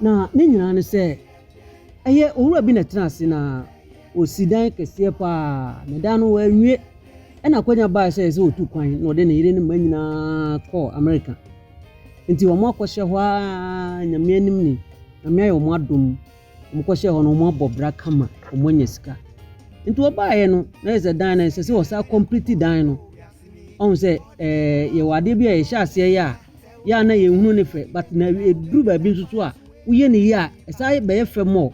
Na ne nyinaa ne sɛ, ɛyɛ owura bi na ɛtena ase na ɔsi dan kɛseɛ pa ara, na dan no wanwie. Ɛna akwanya baeɛ sɛ ɛyɛ sɛ ɔtu kwan na ɔde ne yere ne mma nyinaa kɔɔ Amerika. Nti wɔakɔhyɛ hɔ ara nyame anim ni, nyame ayɛ wɔn adom, wɔkɔhyɛɛ hɔ no wɔabɔ bra kama, wɔanya sika. Nti wɔbaeɛ no na yɛ sɛ dan no ɛsɛ sɛ wɔsan complete dan no, ɔhu sɛ ɛɛ yɛwɔ adeɛ bi a yɛhyɛ aseɛ yɛ a, yɛ a na yɛn hunu ne fɛ but na eduru baabi nso so a woyɛ ne yie a ɛsan bɛyɛ fɛ mɔ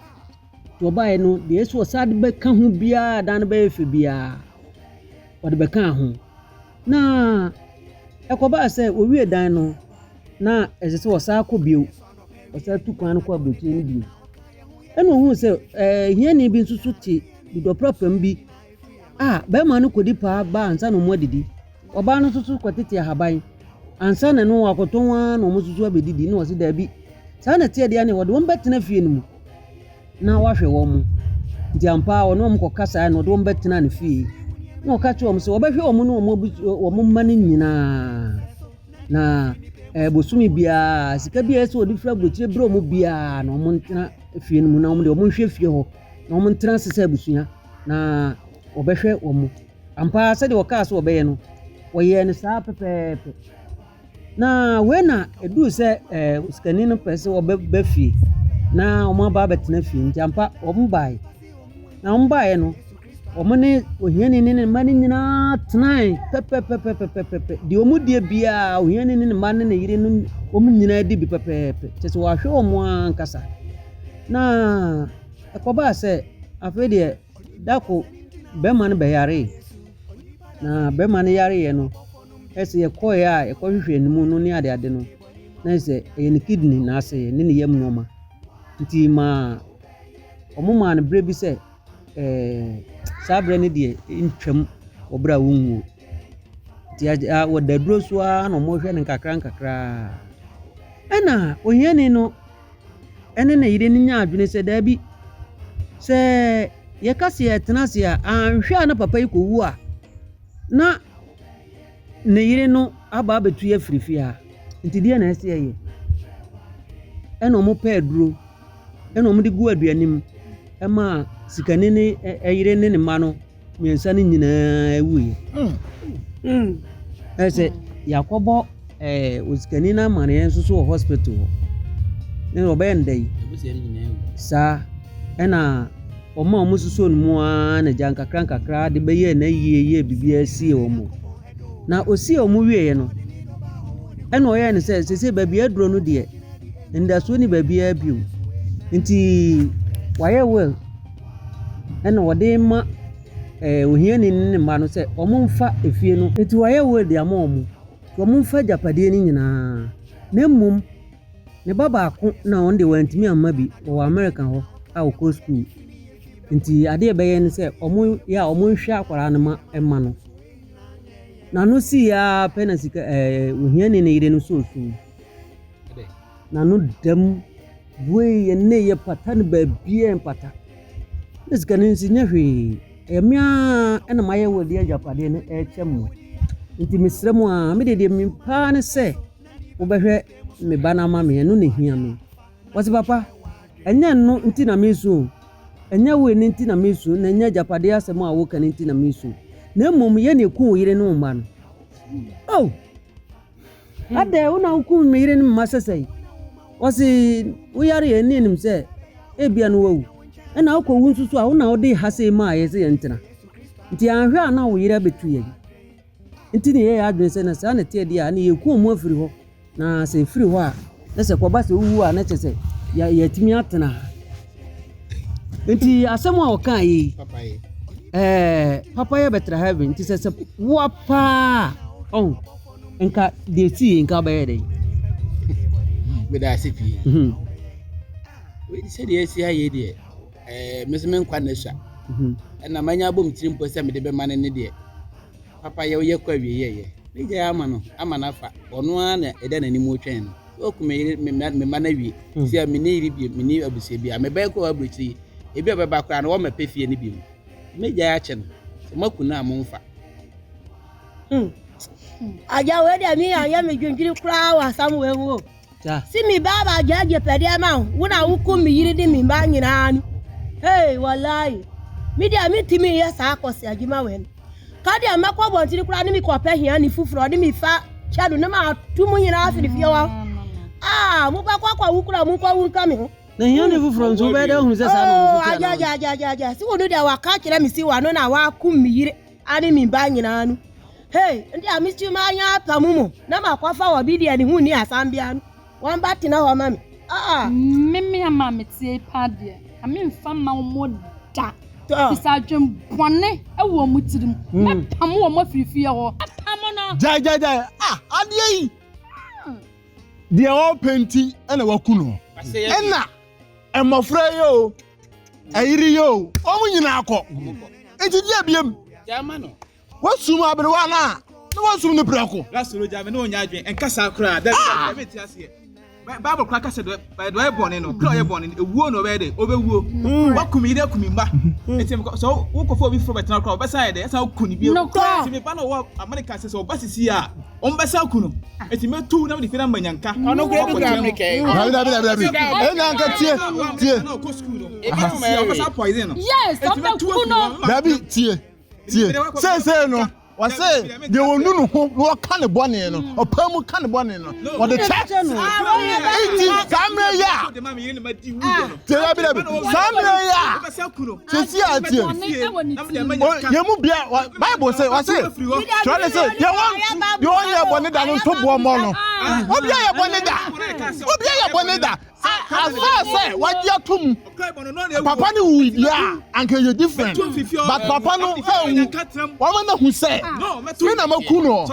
to ɔbaeɛ no deɛ ɛso ɔsan de bɛka ho biara dan no bɛyɛ fɛ biara ɔde bɛka ho na ɛkɔbaa sɛ owie dan no na ɛsɛ sɛ ɔsan kɔ bio ɔsan tu kwan no kɔ aburokyire no bio ɛna ohun sɛ ɛɛ hiani bi nso so te dudɔprapam bi. a bɛrima no kɔdi paa ba ansa na wɔadidi. Ɔbaa no nso so kɔtete ahaban ansa na ɛno wakɔtɔn ara na wɔn nso so abɛdidi na wɔse daabi. Saa na ɛteɛ deɛ ne wɔde wɔn bɛtena fie no mu na wahwɛ wɔn mo. Nti ampa ara ɔne wɔn kɔka saa na ɔde wɔn bɛtena ne fie na ɔka kyerɛ wɔn sɛ wɔbɛhwɛ wɔn ne wɔn abusu wɔn mma no nyinaa na ɛɛ bosome biara sika biara sɛ wɔde firi aburokyire berɛ wɔn biara na wɔn ntena fie no mu na wɔn de wɔn nhwɛ fie hɔ na wɔn ntena ase sɛ abusua. na wɔbɛhwɛ wɔn mu. Ampa ara sɛdeɛ wɔkaa sɛ wɔbɛyɛ no, wɔyɛɛ no saa pɛpɛɛpɛ. Na wei na ɛduu sɛ eh, sikani no pɛ sɛ wɔbɛba fie na wɔn aba abɛtena fie nti ampa wɔn baeɛ na wɔn baeɛ no wɔn ne ohiani ne ne mma no nyinaa tenae pɛpɛpɛpɛpɛpɛ deɛ wɔn deɛ biara ohiani ne ne mma ne ne yere no wɔn nyinaa di bi pɛpɛɛpɛ kyɛ sɛ wɔahwɛ wɔn ankasa na Ɛkɔbaa sɛ afei deɛ da ko bɛma no bɛyaree, na bɛma no yareeɛ no, ɛsɛ yɛkɔeɛ a yɛkɔhwehwɛ ne mu no ne adeade no, na ɛsɛ ɛyɛ ne kidney na ase ne ne yam nneɛma. Nti maa wɔn maa no berɛ bi sɛ ɛɛ saa berɛ no deɛ ntwam wɔ berɛ a wɔnwuo. Nti wɔda aduro so ara na wɔhwɛ no nkakra nkakra. Ɛna ohiani no. ɛne ne yere no nyaa adwene sɛ daabi, sɛ yɛka sɛ yɛtena ase a, anhwɛ a na papa yi kɔwu a, na ne yere no aba abɛtu yɛ afiri fie ha. Nti deɛ na ɛsɛ yɛyɛ. Ɛna wɔn pɛ aduro, ɛna wɔn de gu aduane mu, ɛma sikani ne ɛyere ne ne mma no. mmiɛnsa no nyinaa wuiɛ ɛ sɛ yɛakɔbɔ eh, osikani no amaneɛ nso so wɔ hospital hɔ ne ɔbɛyɛ nda yi saa ɛna wɔn a wɔn soso no mu ara na gya nkakra nkakra de bɛyɛ na yie yɛ biribiara sie wɔn na osie wɔn wieɛ no ɛna ɔyɛ no sɛ sese baabi aduro no deɛ ndasuo ne baabiara bio nti wayɛ well. ɛna ɔde rema ɛɛ ohiani no ne ne mma no sɛ wɔmfa efie no. Enti wayɛ will de ama wɔn. Wɔmfa agyapadeɛ no nyinaa. Na mmom, ne ba baako na ɔno deɛ wantumi amma bi, ɔwɔ Amerika hɔ a ɔkɔ sukuu. Enti adeɛ a ɛbɛyɛ ne sɛ, wɔyɛ a wɔnhwɛ akwadaa no ma mma no. N'ano sii ara pɛ na sika ɛɛ ohiani no yere no sɔɔ sum. N'ano da mu, bue yɛ nneyɛɛ pata no baabiara mpata. Ne sika no nso nyɛ hwee, ɛyɛ me ara na mayɛ wɔde agyapadeɛ no ɛrekyɛ mo. Nti mesrɛ mo ara, me deɛ deɛ menim paa ne sɛ mobɛhwɛ me ba no ama me, ɛno na ɛhia me. Wɔse papa, ɛnyɛ ɛno nti na mesu o, ɛnyɛ wei no nti na mesu, na ɛnyɛ agyapadeɛ asɛm a woka no nti na mesu, na mmom yɛ na ɛku wo yere ne wo mma no. Oh! Adɛn, wo na wokum me yere ne me mma sɛsɛe? Ɔse, wo yare yɛn ne yɛnim sɛ ebia no wawu. Ɛna wokɔ wu nso so a, wo na wode ha sei maa yɛn sɛ yɛn ntena. Nti anhwɛ a na wo yere abɛtu yɛn. Nti ne yɛyɛ adwene sɛ na saa na ɛteɛ deɛ a, ne yɛkuo mu afiri hɔ. Na sɛ ɛfiri hɔ a, Na sɛ kɔba sɛ wowu a na kyɛ sɛ yɛatumi atena ha nti asɛm a ɔkaa yi ɛɛ papa yɛ bɛtra heaven nti sɛ sɛ woa paa ɔn nka deɛ ɛsi yɛ nka bɛyɛ dɛn meda ase pii mhm. sɛdeɛ ɛsi ayɛ deɛ ɛɛ mesɛ menkwa nɛ sua mhm. ɛna manya abɔ me tiri mpo sɛ mede bɛma no ne deɛ Papa yɛ woyɛ kɔ awie yɛyɛ ne gyae ama no ama no afa ɔno ara na ɛda n'anim retwɛn no sɛ ɔku me yere me mma no awie hmm. sɛ me ne yere bie me ne abusua bia me bɛyɛ kɔ aburokyiri yi ebi a bɛba koraa no wɔmmɛpɛ fie no bi mu me gyae akyɛ no sɛ moaku no a momfa hmm. agya wei deɛ me ayɛ me dwendwene koraa wɔ asam wei ho o Se me ba ba gya gye pɛde ama wo, wo na wokum me yere de me mma nyinaa no. Hey, wallahi. Me deɛ mentumi yɛ saa akɔse adwuma wɛ no. Ka deɛ mɛkɔ abɔntene koraa ne me kɔpɛ hia ne foforɔ de me fa kyɛ do ne ma ato mu nyinaa afiri fie hɔ. Ah, mobɛkɔ akɔ awu koraa mu nkɔ wu nka me ho. Na hia ne foforɔ nso wobɛyɛ dɛ ahunu sɛ saa na ɔno nso kyerɛ no. Agya, agya, agya, agya, agya. Se wo no deɛ waka kyerɛ me se wano na wakum me yere ne me mma nyinaa no, hei, nde a metumi manya apam mu na makɔfa wɔ bi deɛ ne ho nni asam biara no, wɔn ba tena hɔ ma me. Ah! Me me ama meteɛ yi paa deɛ, na memfa mma wɔn da. Ɛfiri sɛ adwen bɔne wɔ wɔn tirim. Mɛpam wɔn afiri fie hɔ. Mɛpam no. Gyae, gyae, gyae. Ah, adeɛ yi. Deɛ ɔpɛ nti na waku no. Ɛna mmɔfra yi o. ayiri yoo wɔn nyinaa kɔ nti di abiem wɔsum aberewa no a na wɔsum no prɛko lasoro gya me ne ɔnya adwene nkasa koraa dɛ ah! dɛ mete aseɛ bible kora kasa dɛ dɛ ɔyɛ bɔne no kora ɔyɛ bɔne no ewuo na ɔbɛyɛ dɛ ɔbɛwuo mm. wakum yi dɛ kum mma mm. nti sɛ wokɔfo obi foforɔ bɛtena koraa ɔbɛsan yɛ dɛ ɛsan kun ne bio nti me ba na ɔwɔ amerika sɛ sɛ ɔba sisi a Ɔmbɛsan ku no, eti mɛtu wo na mede Fina ama Nyanka. Ɔno kura bi kura mmerika yi. Dabi dabi dabi dabi. Ɛyɛ Nyanka tie tie. Ebi mu mɛyɛ wei. Yes, ɔbɛ ku no. Dabi tie tie. Seesei no. wɔse deɛ wɔnu no ho na wɔka ne bɔne no ɔpɛ mu ka ne bɔne no wɔde kyɛ nti saa mmerɛ yi a tie dabi dabi saa mmerɛ yi a sisi a tie yɛn mu bia bible sɛ wɔse twerɛ ne sɛ deɛ ɔnyɛ bɔne da no nto boɔ mmɔ no obi ayɛ bɔne da obi ayɛ bɔne da afa sɛ wagye atom papa no wu bia anka yɛ different but papa no ɛwu wɔma no hu sɛ me na maku no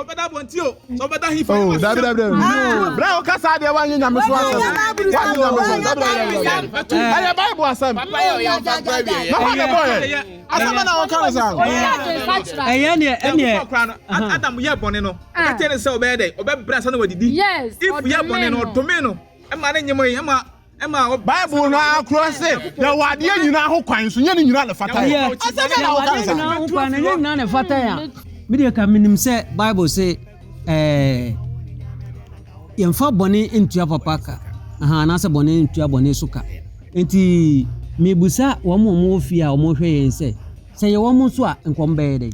sɛ ɔbɛda he fa yɛwɔ dabi dabi dabi bra wo kasa deɛ wanyɛ nyame so asɛm wanyɛ nyame so dabi dabi dabi ɛyɛ bible asɛm na hɔ ne bɔyɛ asɛm na wɔka no saa ɛyɛ neɛ ɛneɛ adam yɛ bɔne no ɔka kyerɛ ne sɛ ɔbɛyɛ dɛ ɔbɛbrɛ ansa na wadidi if yɛ bɔne no ɔdome no ɛma ne nyem ɛma Bible no ara kora se, yɛwɔ adeɛ nyinaa ho kwan, nso nyɛ ne nyinaa na ɛfata yɛn. Asɛm bɛn na woka ne saa? Ɛnyɛ nyinaa na ɛfata yɛn. Medeɛ ka menim sɛ Bible se ɛɛ yɛmfa bɔne ntua papa ka aha anaasɛ bɔne ntua bɔne so ka nti mebusa wɔn a wɔwɔ fie a wɔhwɛ yɛn sɛ sɛ yɛwɔ mo so a nkɔm bɛyɛ dɛn